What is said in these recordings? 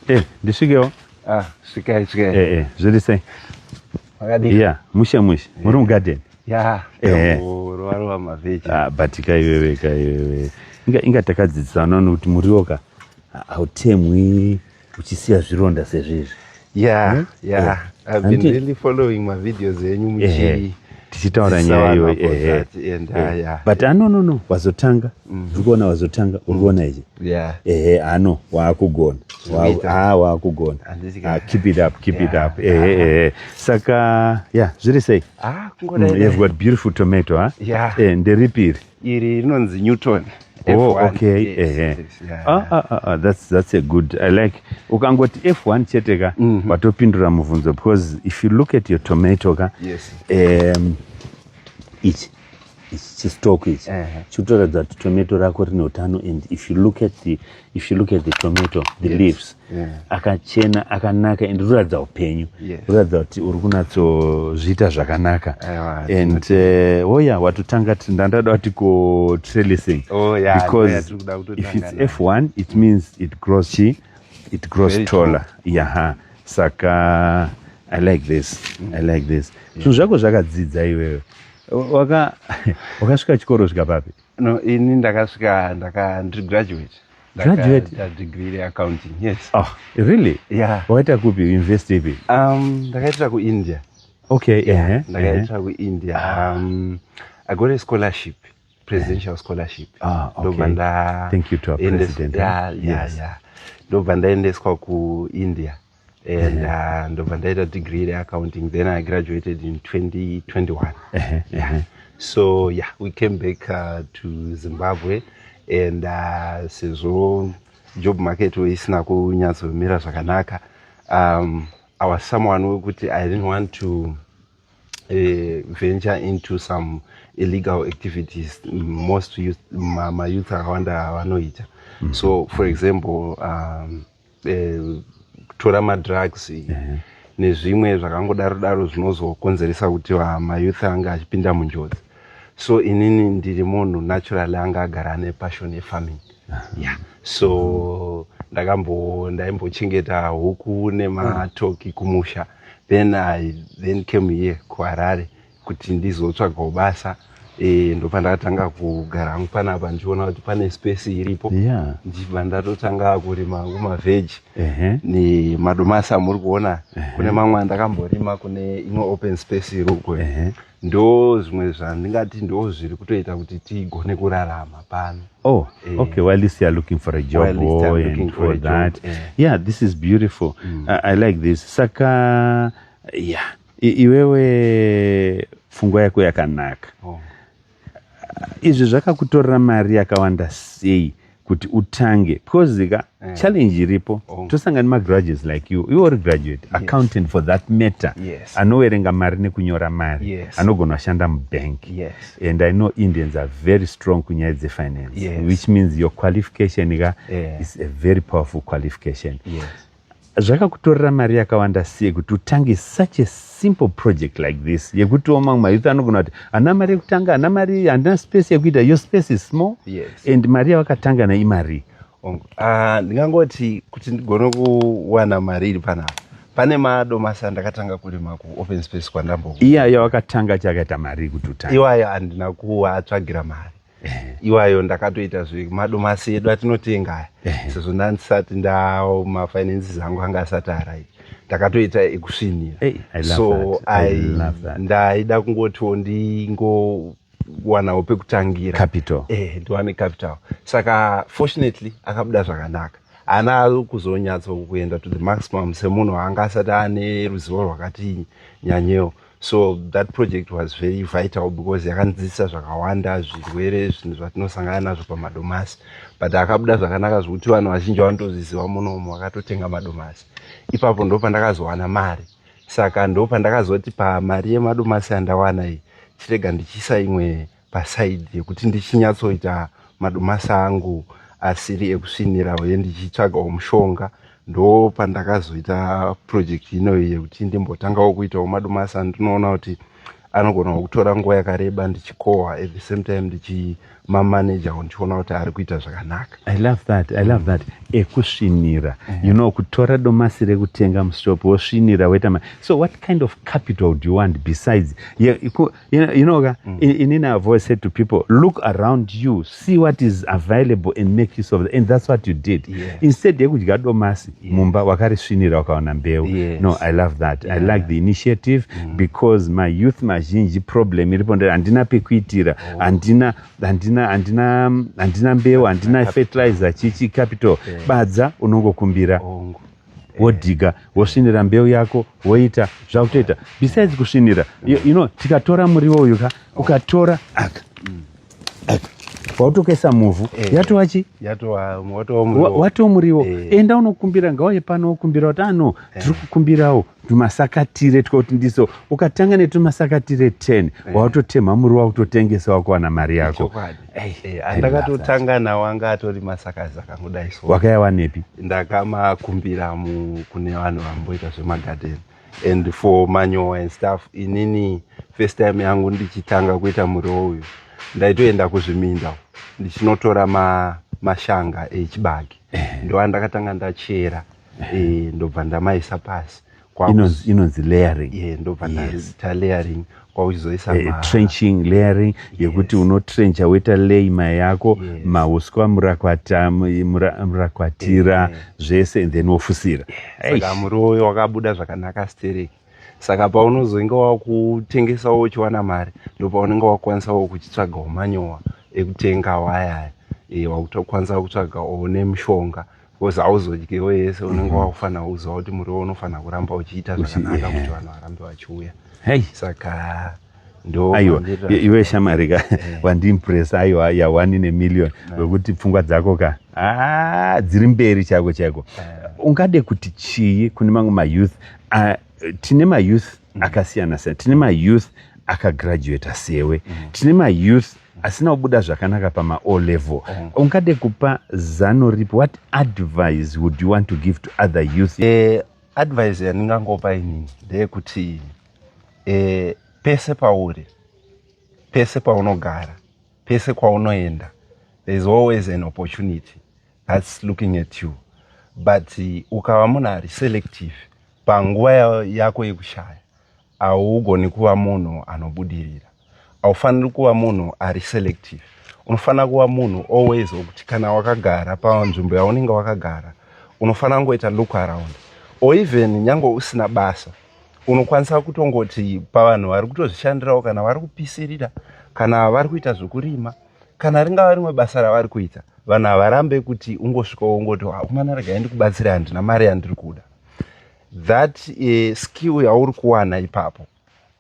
Eh, ndisvikewo. Ah, svikai svikai. Eh, eh, zviri sei? Makadii? Yeah, mushe mushe. Eh. Muri mugarden. Yeah. Eh. Ruvarova mavheji. Ah, but kai wewe kai wewe. Inga inga takadzidzisana nokuti muriwo ka hautemwi uchisiya zvironda sezvizvi. yeah hmm? yeah, yeah. i've been Anti... really following my videos enyu muchi tichitaura nyaya iyo eh, eh. but ano no no wazotanga mm. uri kuona wazotanga uri kuona ichi ehe ano waakugona ah, waakugona ah, keep it up keep it up ehe ehe saka ya zviri sei ah, mm, you've got beautiful tomato ha eh, nderipiri iri rinonzi newton Oh, okay. Yes, uh-huh. yes, yeah. ah, ah, ah, ah, that's, that's a good i like ukangoti f1 chete ka mm -hmm. watopindura mubvunzo because if you look at your tomato ka yes. um, ichi ichi chistock ichi uh-huh. chitoratidza kuti tomato rako rine utano and if you look at the if you look at the tomato the yes. leaves yeah. akachena akanaka and ruratidza upenyu yes. ruratidza kuti uri kunatsozviita zvakanaka yeah, and uh, eh, oya oh yeah, watotanga ndandada kuti ko trellising oh, yeah, because yeah, if it's f1 it means it grows chi it grows Very taller yaha saka i like this mm. i like this zvinhu yeah. zvako zvakadzidza iwewe wakasvika chikoro svika papi No, ini ndakasvika ndaka ndiri graduate. Graduate? Ndaka degree reaccounting, yes. Oh, really? Yeah. Wakaita kupi university ipi? Um, ndakaitira kuIndia. Okay, yeah. Uh-huh. Ndakaitira uh-huh. kuIndia. Ah. Um, I got a scholarship, presidential scholarship. Ah, okay. Ndobva nda Thank you to our president. Yeah, yeah, yes. yeah. Ndobva ndaendeswa kuIndia. and uh, ndobva ndaita degree reaccounting then i graduated in 2021 yeah. so yeah we came back uh, to zimbabwe and uh, sezvo job market isina kunyatsomira zvakanaka um, i was someone wekuti i didn't want to uh, venture into some illegal activities most youth, ma, ma youth akawanda vanoita mm -hmm. so for example um, eh, kutora madrugs uh -huh. nezvimwe zvakangodaro daro zvinozokonzeresa kuti mayouth ange achipinda munjodzi so inini ndiri munhu naturally anga agara ane passion yefarming yeah. so ndakambo ndaimbochengeta huku nematoki kumusha then i then came here kuharare kuti ndizotsvagawo basa e, ndopandakatanga kugara hangu panapa ndichiona kuti pane space iripo yeah. ndichibva ndatotanga kurima hangu mavheji uh -huh. nemadomasi amuri kuona uh -huh. kune mamwe andakamborima kune imwe open space iri uko uh -huh. ndo zvimwe zvandingati ndo zviri kutoita kuti tigone kurarama pano oh eh. okay well least youare looking for a job well, oh, for and for, for that job, eh. yeah this is beautiful mm. I, i like this saka yeah I, iwewe pfungwa yako yakanaka oh. izvi zvakakutorera mari yakawanda sei kuti utange because ka yeah. challenge iripo oh. tosanga nemagraduates like you you are graduate yes. accountant for that matter yes. anowerenga mari nekunyora mari yes. anogona kushanda mubank yes. and i know indians are very strong kunyaya dzefinance yes. which means your qualification ka yeah. is a very powerful qualification yes. Zvakakutorera mari yakawanda sei kuti utange such a simple project like this yekutiwo mamwe mayouth anogona kuti hana mari yekutanga hana mari handina space yekuita your space is small yes. and mari yavakatanga na imari uh, ah, ndingangoti kuti ndigone kuwana mari iri panapa pane mado masa ndakatanga kurima kuopen space kwandambo iya yawakatanga chakaita mari kuti utange iwayo handina kuatsvagira mari iwayo ndakatoita zvemadomasi edu atinotenga aya sezvo ndandisati ndao mafinances angu anga asati arai ndakatoita ekusvinira so ndaida kungotiwo ndingowanawo pekutangira capital eh ndiwane capital saka fortunately akabuda zvakanaka haana kuzonyatso kuenda to the maximum semunhu anga asati ane ruzivo rwakati nyanyewo so that project was very vital because yakanzisa zvakawanda zvirwere zvinhu zvatinosangana nazvo pamadomasi but akabuda zvakanaka zvekuti vanhu vazhinji vanotoziziva munomu vakatotenga madomasi ipapo ndo pandakazowana mari saka ndo pandakazoti pamari yemadomasi yandawana iyi chirega ndichiisa imwe paside yekuti ndichinyatsoita madomasi angu asiri ekusvinira uye ndichitsvagawo mushonga ndo pandakazoita project inoyi yekuti ndimbotangawo kuitawo madomasi andinoona kuti anogonawo kutora nguva yakareba ndichikohwa at the same time ndichimamanajawo ndichiona kuti ari kuita zvakanaka i love that i love that ekusvinira mm. you know kutora domasi rekutenga mushop wosvinira weta so what kind of capital do you want besides yeah, You know, you know mm. inini I've always said to people, look around you, see what is available and make use of it. And that's what you did. Yeah. Instead yekudya domasi yeah. mumba wakarisvinira wakaona mbeu. Yes. No, I love that. Yeah. I like the initiative mm. because my youth mazhinji problem iripo ndere handina pekuitira, oh. handina handina handina handina mbeu, handina fertilizer chichi capital. Yeah. Badza unongokumbira. Oh. wodhiga wosvinira mbeu yako woita zvakutoita besides kusvinira you, you know tikatora muriwo uyu ka ukatora aka aka wautokaisa muvhu eh. yatova chi watova muriwo eh. enda unokumbira ngauye pano wokumbira kuti ano eh. tiri kukumbirawo tumasakatire twekuti ndiso ukatanga netumasakatire 10 eh. wakutotemha muri wakutotengesa wakuwana mari yako eh, andakatotanga nawo anga atori masakazi akangodai so wakayawanepi ndakamakumbira kune vanhu vamboita zvemagadeni and for manyowa and stuff inini first time yangu ndichitanga kuita muriwo uyu ndaitoenda kuzviminda ndichinotora mashanga echibage eh. ndovandakatanga ndachera e, ndobva ndamaisa pasi inonzi layering yeah, ndobva ndaita yes. layering kwakuchizoisa eh, trenching layering yekuti yes. unotrencha woita lay mai yako yes. mauswa murakwata murakwatira yeah. zvese then wofusira yeah. saka muroyi wakabuda zvakanaka stereki saka paunozoinge wakutengesawo uchiwana mari ndopaunenge wakwanisawo kuchitsvagawo manyowa ekutenga wayaya e, eh, wakutokwanisa kutsvaga one mushonga because hauzodyiwo yese unenge mhm. wakufanira kuziva kuti muriwo unofanira kuramba uchiita zvakanaka kuti vanhu varambe vachiuya saka aiwa iwe shamari ka eh. wandiimpresa aiwa yawani nemillion eh. wekuti pfungwa dzako ka ah, dziri mberi chaiko chaiko eh. ungade kuti chii kune mamwe mayouth ah, tine mayouth mm. akasiyana siyana tine mayouth akagraduata sewe mm. tine mayouth asina kubuda zvakanaka pama o level mm. ungade kupa zano ripi what advice would you want to give to other youth eh, advice yandingangopa inini ndeyekuti eh, pese pauri pese paunogara pese kwaunoenda there is always an opportunity thats looking at you but eh, ukava munhu ari selective panguva yako yekushaya haugoni kuva munhu anobudirira haufaniri kuva munhu ari selective unofanira kuva munhu always okuti kana wakagara panzvimbo yaunenge wakagara unofanira kungoita look around or even nyange usina basa unokwanisa kutongoti pavanhu vari kutozvishandirawo kana vari kupisirira kana vari kuita zvekurima kana ringava rimwe basa ravari kuita vanhu havarambe kuti ungosvikawo ungoti hakumana ah, rega endi kubatsira handina mari yandiri kuda that uh, skill yauri kuwana ipapo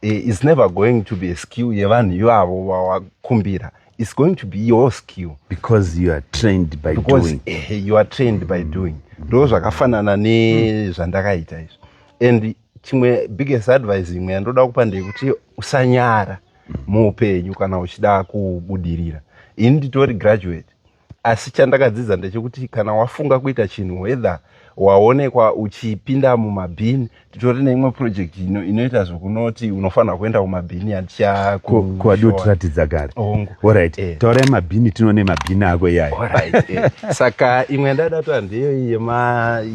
uh, is never going to be a skill yevanhu ivavo vawakumbira is going to be your skill because you are trained by because, doing uh, you are trained by mm. doing ndo zvakafanana nezvandakaita mm. izvi and chimwe biggest advice imwe yandoda kupa ndeyekuti usanyara mm. muupenyu kana uchida kubudirira ini nditori graduate asi chandakadzidza ndechekuti kana wafunga kuita chinhu whether waonekwa uchipinda mumabhini titori neimwe project ino inoita zvekunoti unofanira kuenda kumabhini yatichakuadiotiratidza gare orit eh. taurai mabhini tinone mabhini ako iyayo eh. saka imwe yandada to handeyo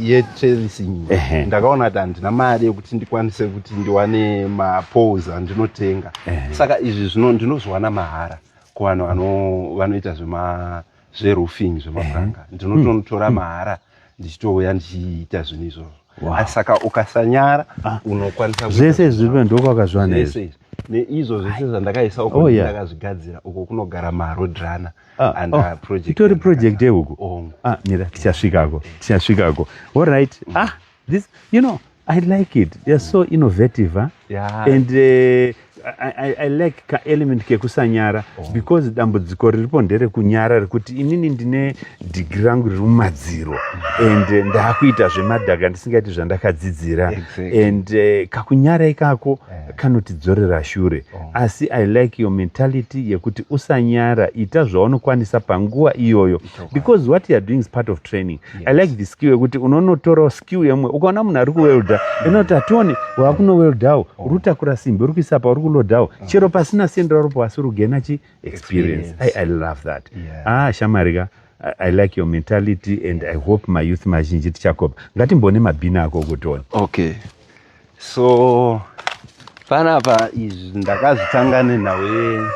yetracing ndakaona kuti handina mari yekuti ndikwanise kuti ndiwane mapols andinotenga saka izvi zvino ndinozviwana mahara kuvanhu vanoita zvema zveroofing zvemapuranga mhm. ndinotonotora mhm. mahara ndichitouya ndichiita zvinhu izvozvo asi saka ukasanyara ah. unokwanisa zvese zviripo ndokwakazviwana izvi neizvo zvese zvandakaisa uko oh, ndakazvigadzira uko kunogara marodrana ah, and oh, project itori project yeuku ah, mira tichasvikako tichasvikako allright mm. ah This, you know, I like it. They are so innovative. Huh? Yeah. And uh, I, I, I like ka element kekusanyara oh. because dambudziko riripo nderekunyara rekuti inini ndine dhigi rangu riri mumadziro and eh, ndakuita zvemadhaga ndisingaiti zvandakadzidzira exactly. and uh, kakunyara ikako yeah. kanotidzorera shure oh. asi i like your mentality yekuti usanyara ita zvaunokwanisa panguva iyoyo because what youare doing is part of training yes. i like the skill yekuti unonotorawo skill yemwe ukaona munhu ari kuwelda mm. inoti atione waakunoweldawo oh. uri kutakura simbi uri kuisa pauri kulodawo mm. chero pasina sendera ropo asi uri kugena chi experience I, i love that yeah. ah shamarika I like your mentality and I hope my youth mazhinji tichakopa ngatimbone mabhini ako okutiona okay so panapa izvi ndakazvitanga nenhau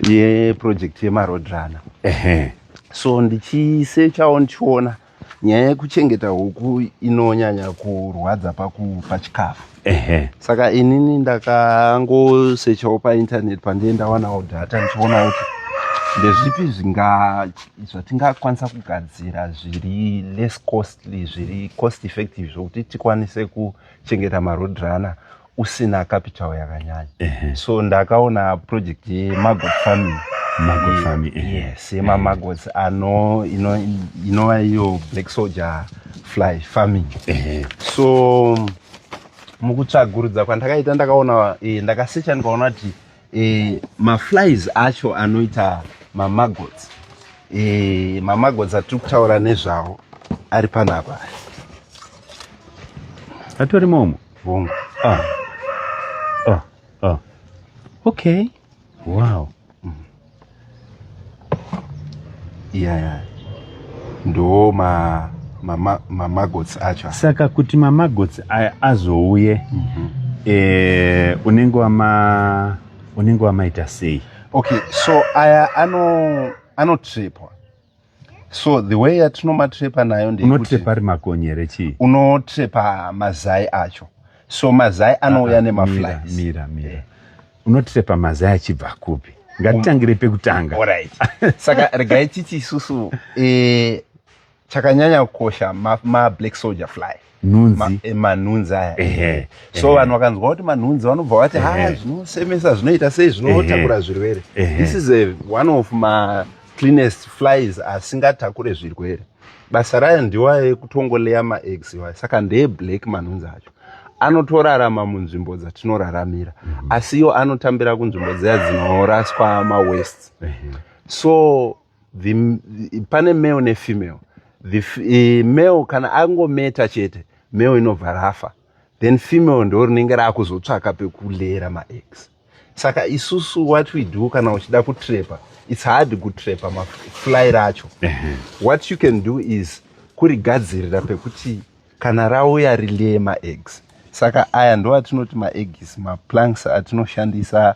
yeproject yemaroad runner ehe so ndichisechawo ndichiona nyaya yekuchengeta huku inonyanya kurwadza pakupa chikafu ehe saka inini ndakangosechawo painternet pandiye ndawanawo data ndichiona kuti ndezvipi zvinga- zvatingakwanisa kugadzira zviri less costly zviri cost effective zvokuti tikwanise kuchengeta maroad runner usina capital yakanyanya uh -huh. so ndakaona project yemagot farming magot eh, farming uh eh. -huh. yes eh. yemamagots uh -huh. ano inova ino iyo black soldier fly farming uh -huh. so mukutsvagurudza kwandakaita ndakaona eh, ndakasecha ndikaona kuti eh, maflies acho anoita mamagots eh, mamagots atiri kutaura nezvawo ari panapa atori momo vongo ah. ah. ah. okay wow mm. yeah, yeah. ndo ma mamagots ma, ma acho saka kuti mamagots aya azouye mm -hmm. e, unenge wama unenge wamaita sei okay so aya ano anotripwa so the way yatinomatrepa nayo ndeunotrepa ari makonyere chii unotrepa mazai acho so mazai ah, anouya ah, nemaflies mira mira eh. unotrepa mazai achibva kupi ngatitangire um, pekutanga right. saka regai titi isusu eh, chakanyanya kukosha mablack ma soldier fly nhunzi eh, manhunzi aya ehe so vanhu vakanzwa kuti manhunzi vanobva vati ha zvinosemesa zvinoita sei zvinotakura zvirwere this is a, one of ma cleanest flies asingatakure zvirwere basa rayo ndiwa ekutongoleya maeggs iwayo saka ndeye black manhunzi acho anotorarama munzvimbo dzatinoraramira mm -hmm. asi iyo anotambira kunzvimbo dziya dzinoraswa mawest mm -hmm. so the, pane male nefemale the uh, male kana angometa chete male inobva rafa then female ndo rinenge raakuzotsvaka pekulera maex saka isusu what we do kana uchida kutrepa its hard kutrepa mafly racho what you can do is kurigadzirira pekuti kana rauya rilee maex saka aya ndo atinoti maegs maplanks atinoshandisa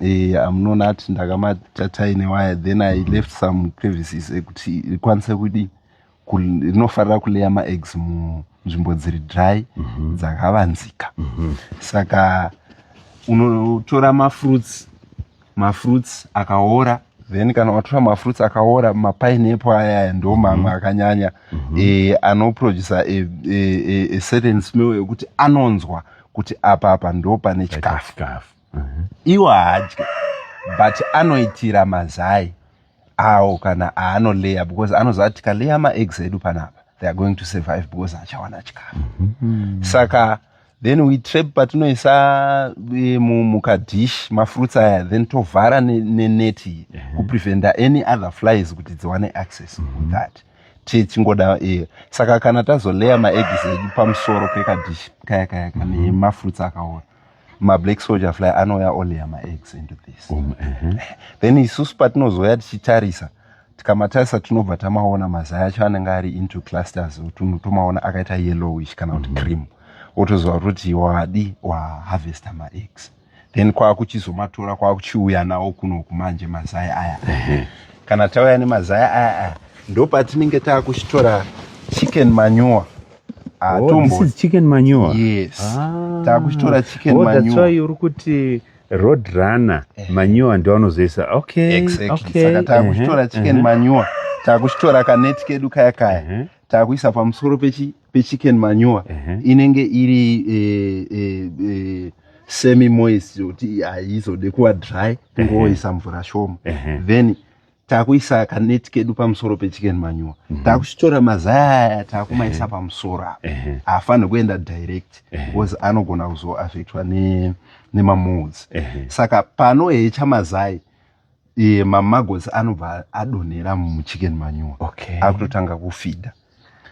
eh, amunoona ati ndakamatatai newaya then i left some crevices ekuti rikwanise kudi rinofarira kuleya maeggs munzvimbo dziri dry mm -hmm. dzakavanzika mm -hmm. saka unotora mafruits mafruits akaora then kana watora mafruits akaora mapineapple ayaya ndo mhm. mamwe akanyanya mhm. eh, anoproducer a certain smell ekuti anonzwa kuti apa apa ndo pane chikafu mhm. iwo haadye but anoitira mazai awo kana aanoleya because anoziva kuti tikaleya maeggs edu panapa they are going to survive because achawana chikafu mm -hmm. saka then we trap patinoisa eh, mukadish mafruits aya then tovhara neneti ne, ne mhm. kupreventa any other flies kuti dziwane access mm -hmm. with that tichingoda iye saka kana tazoleya maeggs edu pamusoro pekadish kaya kaya kanemafruits mm-hmm. akaora mablack soldier fly anouya oleya maeggs into this um, uh-huh. then isusu patinozoya tichitarisa tikamatarisa tinobva tamaona mazai acho anenge ari into clusters otunhu tomaona akaita yellowish kana kuti mm-hmm. cream otoziva kuti wadi waharvesta maeggs then kwakuchizomatora kwakuchiuya nawo kunoku manje mazai aya kana tauya nemazai aya aya ndopatinenge takuchitora chicken manure ah, oh, chicken manure yes ah. takuchitora chicken oh, manure uri kuti road runner eh. manure ndiwanozoisa okay exactly okay. saka takuchitora uh -huh. chicken uh -huh. manure takuchitora kaneti kedu kaya kaya uh -huh. takuisa pamusoro pechi pechicken manure uh -huh. inenge iri e, e, e, semi moist yokuti haizode kuva dry kungoisa uh -huh. mvura shoma uh -huh. then takuisa kaneti kedu pamusoro pechicken manure uh mhm. -huh. takuchitora mazaya aya takumaisa uh -huh. pamusoro apa uh -huh. haafanirwi kuenda direct uh -huh. because anogona kuzoaffectwa nemamoods ne uh -huh. saka panohecha mazai e, mamagosi anobva adonhera muchicken manure okay. akutotanga kufidha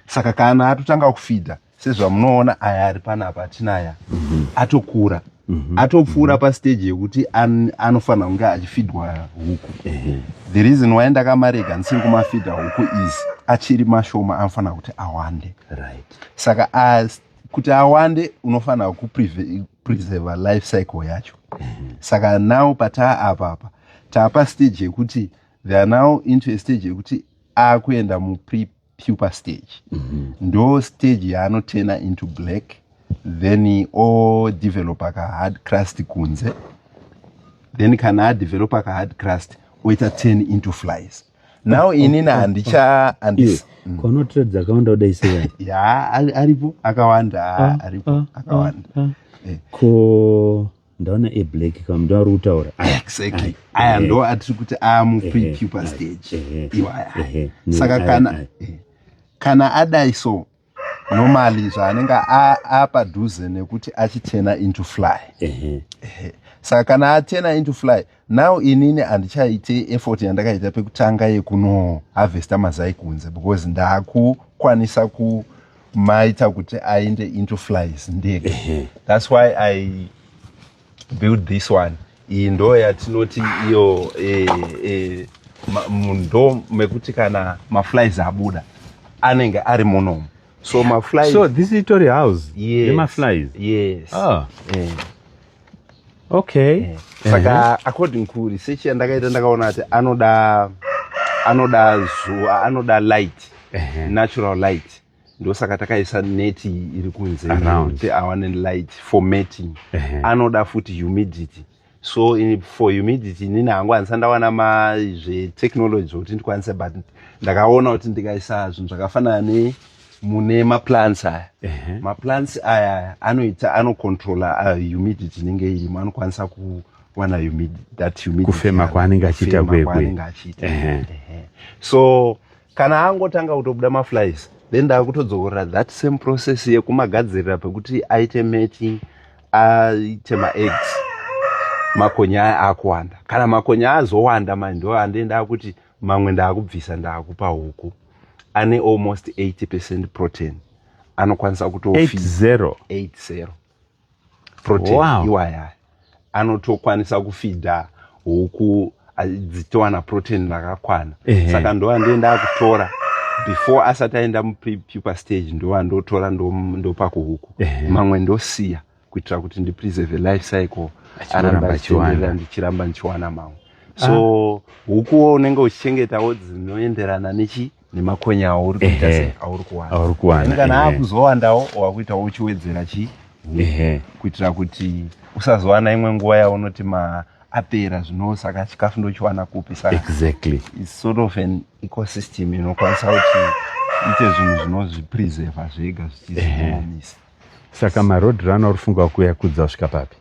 saka kana atotanga kufidha sezvamunoona aya ari panapa atinaya mm -hmm. atokura mm -hmm. atopfuura mm -hmm. pasteji yekuti an, anofanira kunge achifidwa huku mm -hmm. the reason why ndakamarega ndisiri kumafidha huku izi achiri mashoma anofanira kuti awande right. saka as kuti awande unofanira kupreserva life cycle yacho mhm. saka now pataa apa apa taapa stage yekuti they are now into a stage yekuti akuenda mupre puper stage mhm. ndo stage yaanotena into black then odevelopa kahard crust kunze then kana adevelopa kahard crust oita ten into flies now inini handicha mm. kono trade dzakawanda kudai sei ya aripo akawanda ah, aripo ah, ah, akawanda eh. ko ndaona e black kam ndo ari kutaura exactly aya ndo atiri kuti aya mufree pupa stage iwaya saka kana kana adai so normally zvaanenge apadhuze nekuti achitena into fly saka kana atena into fly now inini handichaite effort yandakaita pekutanga yekuno harvesta mazai kunze because ndakukwanisa kumaita kuti aende into flies ndege thats why i build this one iyi ndo yatinoti iyo e, e, ndo mekuti kana maflies abuda anenge ari monomo so maflies so this itori house yes. yemaflies yes ah. eh. okay eh. saka uh -huh. according ku research yandakaita ndakaona kuti anoda anoda zuva anoda light uh -huh. natural light ndosaka takaisa net iri kunze kuti awane light for mating anoda futi humidity so in, for humidity inini hangu handisa ndawana mazvetechnology zvekuti ndikwanise but ndakaona kuti ndikaisa zvinhu zvakafanana ne mune maplants aya uh -huh. maplants aya anoita anocontrola uh, humidity inenge irimo anokwanisa kuwana humidity kufema kwaanenge achiita kwekwe so kana angotanga kutobuda maflies then ndakutodzokorera that same process yekumagadzirira pekuti aite mating aite maeggs makonya aya akuwanda kana makonya azowanda mai ndo ande ndakuti mamwe ndakubvisa ndakupa huku ane almost 80 percent protein anokwanisa kuto 80 80 protein wow. iwaya anotokwanisa kufidha huku dzitowana protein rakakwana saka ndova ndoenda akutora before asati aenda mupupa stage ndova ndotora ndopa kuhuku mamwe ndosiya kuitira kuti ndipreserve life cycle aramba achienderera ndichiramba ndichiwana mamwe so ah. hukuwo unenge uchichengetawo dzinoenderana nechi nemakonya auri kuita sei auri kuwana auri kuwana kana akuzowandawo wakuita uchiwedzera chi kuitira kuti usazowana imwe nguva yaunoti ma apera zvino saka chikafu ndochiwana kupi saka exactly it's sort of an ecosystem inokwanisa kuti ite zvinhu zvinozvipreserva zvega zvichizviomisa saka maroad run auri funga kuya kudza kusvika papi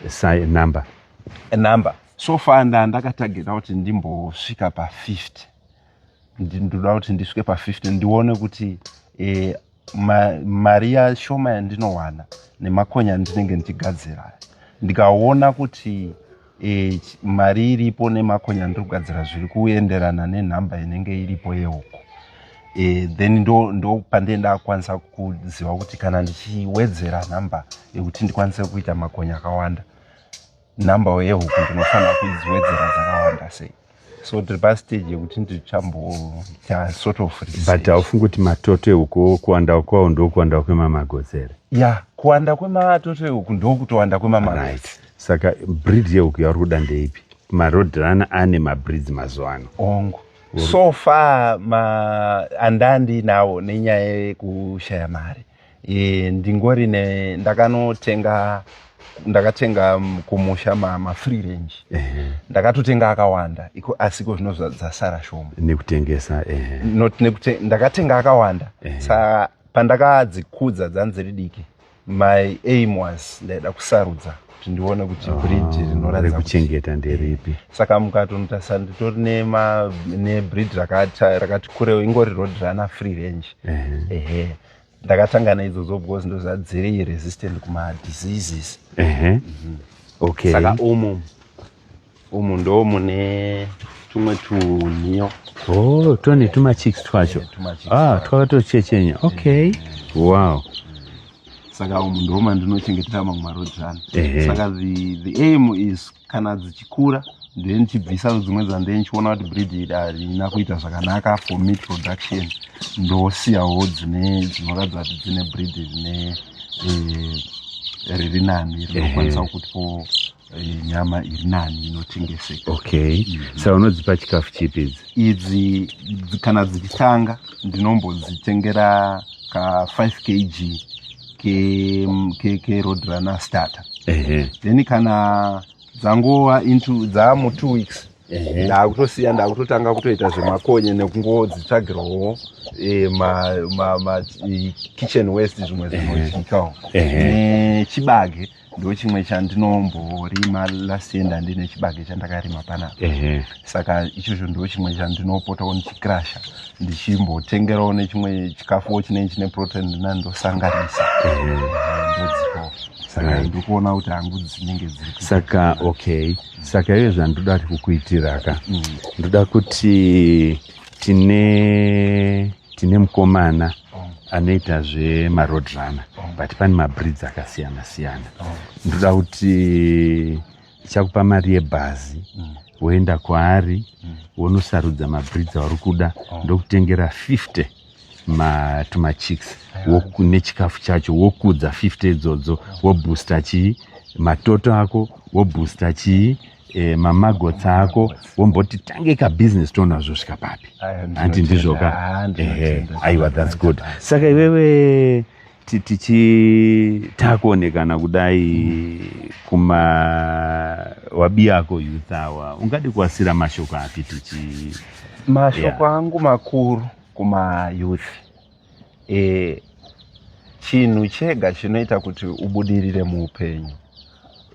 sa number number so far nda ndakatargeta kuti ndimbosvika pa 50 ndinoda kuti ndisvike pa50 ndione kuti eh, mari yashoma yandinowana nemakonya andinenge ndichigadzira aya ndikaona kuti e, mari iripo nemakonya andiri kugadzira zviri kuenderana nenhamba inenge iripo yeuko e, eh, then ndo, ndo pandee ndakwanisa kuziva kuti kana ndichiwedzera nhamba yekuti ndikwanise kuita makonya akawanda number yehuku ndinofanira kudziwedzera dzakawanda sei so tiri pastage yekuti ndichamboita sort of but haufungi kuti matoto ehuku kuwanda kwawo ndokuwanda kwemamagozi here ya yeah, kuwanda kwematoto ehuku ndokutowanda kwemamagozi right. saka breed yehuku yauri kuda ndeipi marodhirana ane mabreeds mazuva ano ongo so far ma andandinawo nenyaya yekushaya mari e, ndingori ne ndakanotenga ndakatenga kumusha ma, ma free range uh -huh. ndakatotenga akawanda iko asi iko zvino zvadzasara shoma nekutengesa uh -huh. not nekute, ndakatenga akawanda uh -huh. sa pandakadzikudza dzanziri diki my aim was ndaida kusarudza kuti ndione kuti ah, breed rinoratidza rekuchengeta nderipi eh, saka mukatonotarisa nditori nebreed rakati kurewo ingori road runner free range ehe ndakatangana idzodzo because ndozadziri resistant kumadiseases mhm. okay saka umu umu ndo mune tumwe tunhiyo oh tone tumachicks twacho ah twakatochechenya okay wow saka umu ndo mandinochengetera mamwe marodzvana saka the, the aim is kana dzichikura then chibvisa dzimwe dzandee ndichiona kuti breed iri harina kuita zvakanaka for meat production ndosiyawo dzine dzinoratidza kuti dzine breed rine eh, riri nani rinokwanisa kutipo Eh, nyama iri nani inotengeseka okay mm -hmm. sa unodzipa chikafu chipi idzi idzi kana dzichitanga ndinombodzitengera ka 5 kg kerodrunner ke, ke starter uh -huh. then kana dzangova into dzaamu two weeks ndakutosiya ndakutotanga kutoita zvemakonye nekungo dzitsvagirwawo eh, makitchen west zvimwe zvinotyikawo nechibage ndochimwe chandinomborima last year ndandine chibage chandakarima panapa saka ichozvo ndochimwe chandinopotawo ndichikrasha ndichimbotengerawo nechimwe chikafuwo chinei chine protein ndina ndosanganisa ndodzikawo saka ndikuona kuti hangu dzinenge dziri saka okay saka iye zvandoda kuti kukuitira ka mm. ndoda kuti tine tine mukomana anoita zvemaroad runner but pane mabreeds akasiyana siyana ndoda kuti chakupa mari yebhazi woenda kwaari wonosarudza mabreeds auri kuda ndokutengera 50 matumachicks nechikafu chacho wokudza 50 idzodzo woboosta chii matoto ako woboosta chii e, mamagotsi ako womboti tange kabusiness toona zvosvika papi hanti ndizvoka ehe aiwa thats good saka iwewe tichitakuonekana kudai kuma wabi ako youth awa ungadi kuasira mashoko api tichi mashoko yeah. angu makuru kuma youth e, chinhu chega chinoita kuti ubudirire muupenyu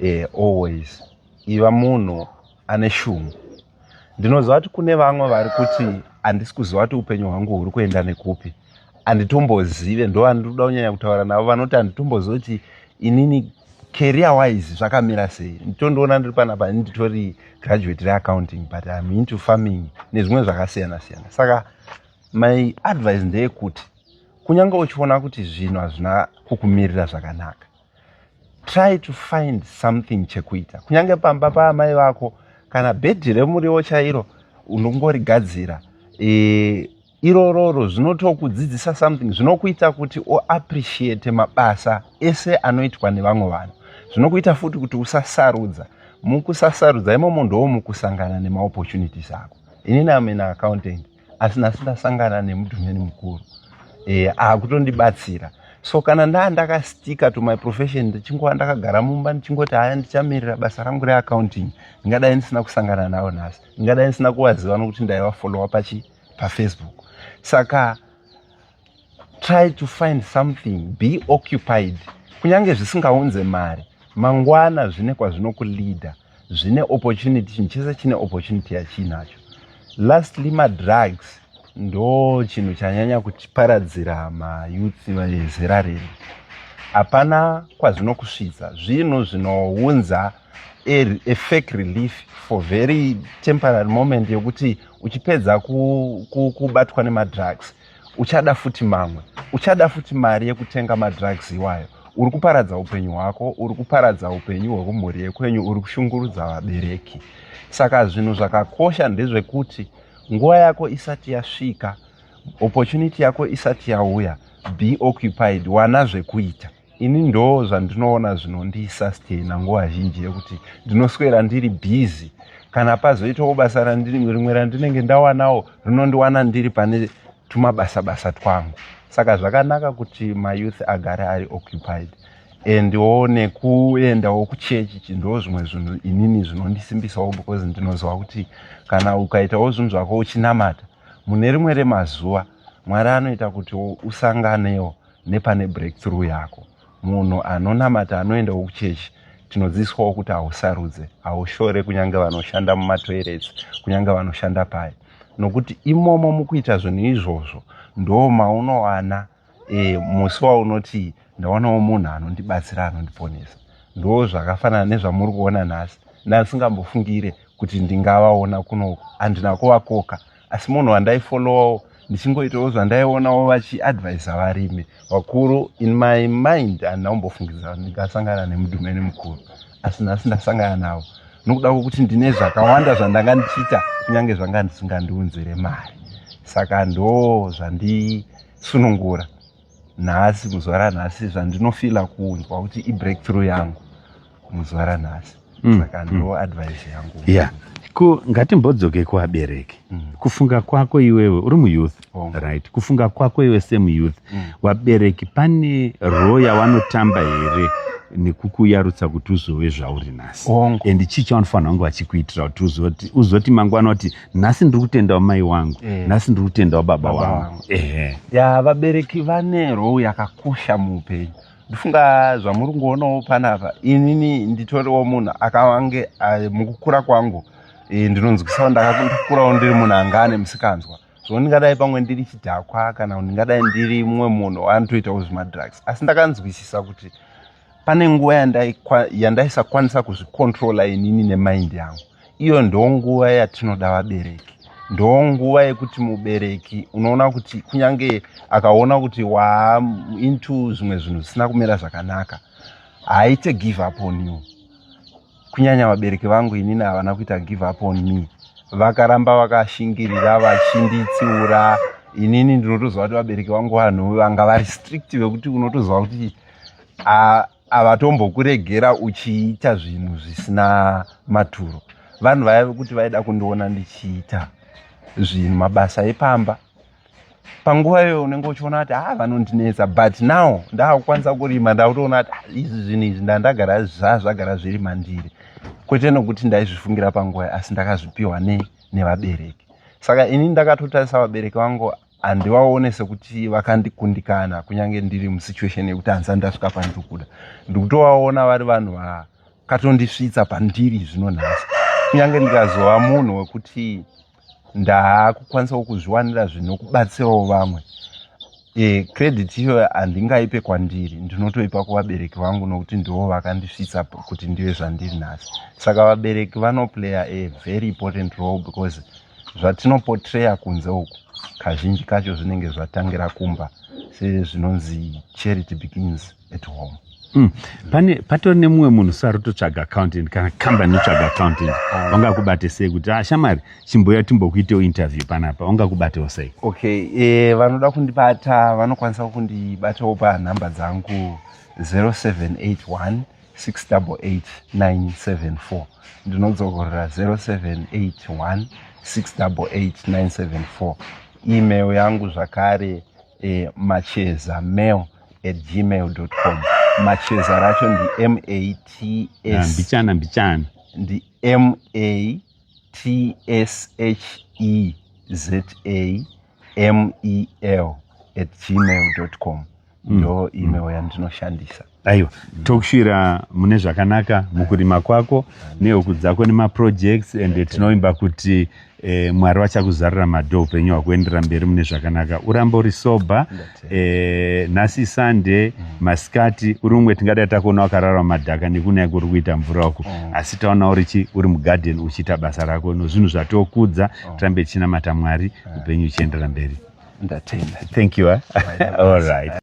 e, always iva munhu ane shungu ndinoziva kuti kune vamwe vari kuti handisi kuziva kuti upenyu hwangu huri kuenda nekupi handitombozive ndo vandinoda kunyanya kutaura navo vanoti handitombozive kuti inini career wise zvakamira sei nditondiona ndiri panapa ini nditori graduate reaccounting but im into farming nezvimwe zvakasiyana siyana saka My advice ndeyekuti kunyange uchiona kuti zvinhu hazvina kukumirira zvakanaka try to find something chekuita kunyange pamba paamai vako kana bhedhi remuriwo chairo unongorigadzira e, irororo zvinotokudzidzisa something zvinokuita kuti uappreciate mabasa ese anoitwa nevamwe vanhu zvinokuita futi kuti usasarudza mukusasarudza imomo ndoo mukusangana nemaopportunities ako inini amena accountant asi nhasi ndasangana nemudhumeni mukuru e, akutondibatsira so kana ndaa ndakastika to my profession ndichingova ndakagara mumba ndichingoti haya ndichamirira basa rangu reaccounting ndingadai ndisina kusangana navo nhasi ndingadai ndisina kuvaziva nokuti ndaivafollowa pachi pafacebook saka try to find something be occupied kunyange zvisingaunze mari mangwana zvine kwazvinokuleader zvine opportunity chinhu chese chine opportunity yachiinacho lastly madrugs ndo chinhu chanyanya kutiparadzira mayuthi vezera rino hapana kwazvinokusvitsa zvinhu zvinounza a fake relief for very temporary moment yokuti uchipedza kubatwa nemadrugs uchada futi mamwe uchada futi mari yekutenga madrugs iwayo uri kuparadza upenyu hwako uri kuparadza upenyu hwekumhuri yekwenyu uri kushungurudza vabereki saka zvinhu zvakakosha ndezvekuti nguva yako isati yasvika opportunity yako isati yauya be occupied wana zvekuita ini ndoo zvandinoona zvinondisastaina nguva zhinji yekuti ndinoswera ndiri busy kana pazoitawo basa rimwe randinenge ndawanawo rinondiwana ndiri pane tumabasa basa twangu saka zvakanaka kuti mayouth agare ari occupied and wo nekuendawo kuchechi chindoo zvimwe zvinhu inini zvinondisimbisawo because ndinoziva kuti kana ukaitawo zvinhu zvako uchinamata mune rimwe remazuva mwari anoita kuti usanganewo nepane breakthrough yako munhu anonamata anoendawo kuchechi tinodzidziswawo kuti hausarudze haushore kunyange vanoshanda mumatoirets kunyange vanoshanda paye nokuti imomo mukuita zvinhu izvozvo ndo maunowana e, musi waunoti ndawanawo munhu anondibatsira anondiponesa ndo zvakafanana nezvamuri kuona nhasi ndandisingambofungire kuti ndingavaona kunoku handina kuvakoka asi munhu wandaifollowawo ndichingoitawo zvandaionawo vachiadvisa varimi vakuru in my mind handina kumbofungidzira kuti ndingasangana nemudhumeni mukuru asi nhasi ndasangana navo nokuda kwokuti ndine zvakawanda zvandanga ndichiita kunyange zvanga ndisingandiunzire mari saka ndo zvandisunungura nhasi muzuva ranhasi zvandinofila kunzwa kuti ibreakthrough yangu muzuva ranhasi mm, saka mm. ndo advice yangu yeah ko ngatimbodzoke kuvabereki mm. kufunga kwako iwewe uri muyouth oh. right kufunga kwako iwe semuyouth mm. vabereki pane roo yavanotamba here nekukuyarutsa kuti uzove zvauri nhasi and chii chaunofanira kunge vachikuitira kuti uzoti mangwana kuti nhasi ndiri kutendawo mai wangu eh. nhasi ndiri kutendawo baba wangu ehe ya vabereki vane rou yakakosha muupenyu ndifunga zvamuri kungoonawo panapa inini nditoriwo munhu akawange mukukura kwangu eh, ndinonzwisawo ndakakurawo ndiri munhu anga ane musikanzwa so ndingadai pamwe ndiri chidhakwa kana ndingadai ndiri mumwe munhu anotoitawo zvemadrugs asi ndakanzwisisa kuti pane nguva yandaisakwanisa yanda kuzvikontrola inini nemaindi yangu iyo ndo nguva yatinoda vabereki ndo nguva yekuti mubereki unoona kuti kunyange akaona kuti waa into zvimwe zvinhu zvisina kumira zvakanaka haaite give up on you kunyanya vabereki vangu inini havana kuita give up on me vakaramba vakashingirira vachinditsiura inini ndinotoziva kuti vabereki vangu vanhu vanga vari strict vekuti unotoziva kuti havatombokuregera uchiita zvinhu zvisina maturo vanhu vaya vekuti vaida kundiona ndichiita zvinhu mabasa epamba panguva iyoyo unenge uchiona kuti ha ah, vanondinetsa but now ndaakukwanisa kurima ndakutoona kuti ah, izvi zvinhu izvi ndandagara zvazvagara zviri mandiri kwete nokuti ndaizvifungira panguva asi ndakazvipiwa ne nevabereki saka ini ndakatotarisa vabereki vangu handivaone sekuti vakandikundikana kunyange ndiri musituation yekuti hanzani ndasvika pandiri kuda ndikutovaona vari vanhu vakatondisvitsa pandiri zvinonhasi kunyange ndikazova munhu wekuti ndaakukwanisawo kuzviwanira zvinokubatsirawo vamwe e, credit iyo handingaipe kwandiri ndinotoipa kuvabereki vangu nokuti ndivo vakandisvitsa kuti ndive zvandiri nhasi saka vabereki vanoplaya a very important role because zvatinopotreya kunze uku kazhinji kacho zvinenge zvatangira kumba sezvinonzi charity begins at home Mm. pane patori nemumwe munhu sari totsvaga accountant kana kambani itsvaga accountant ah. vangakubate sei kuti ah, shamari chimboya timbokuitewo interview panapa vangakubatewo sei okay e, vanoda kundibata vanokwanisa kundibatawo panhamba dzangu 0781 688974 ndinodzokorera 0781 688974 email yangu zvakare e, macheza mail at gmail.com macheza racho ndi mats mbichana mbichana ndi matsheezamel at gmail.com mm. ndo mm. email yandinoshandisa aiwa mm. tokushira mune zvakanaka mukurima kwako nehuku dzako nemaprojects and tinoimba kuti Eh, mwari vachakuzarira madhoo upenyu hwakuendera mberi mune zvakanaka urambe uri soba eh, nhasi sande mm. masikati uri umwe tingadai takuona wakarara madhaka nekunaya kuri kuita mvura uku mm. asi taona urichi uri mugarden uchiita basa rako nozvinhu zvatokudza mm. tirambe tichinamata mwari upenyu uchiendera mberi ndatenda thank you eh? all right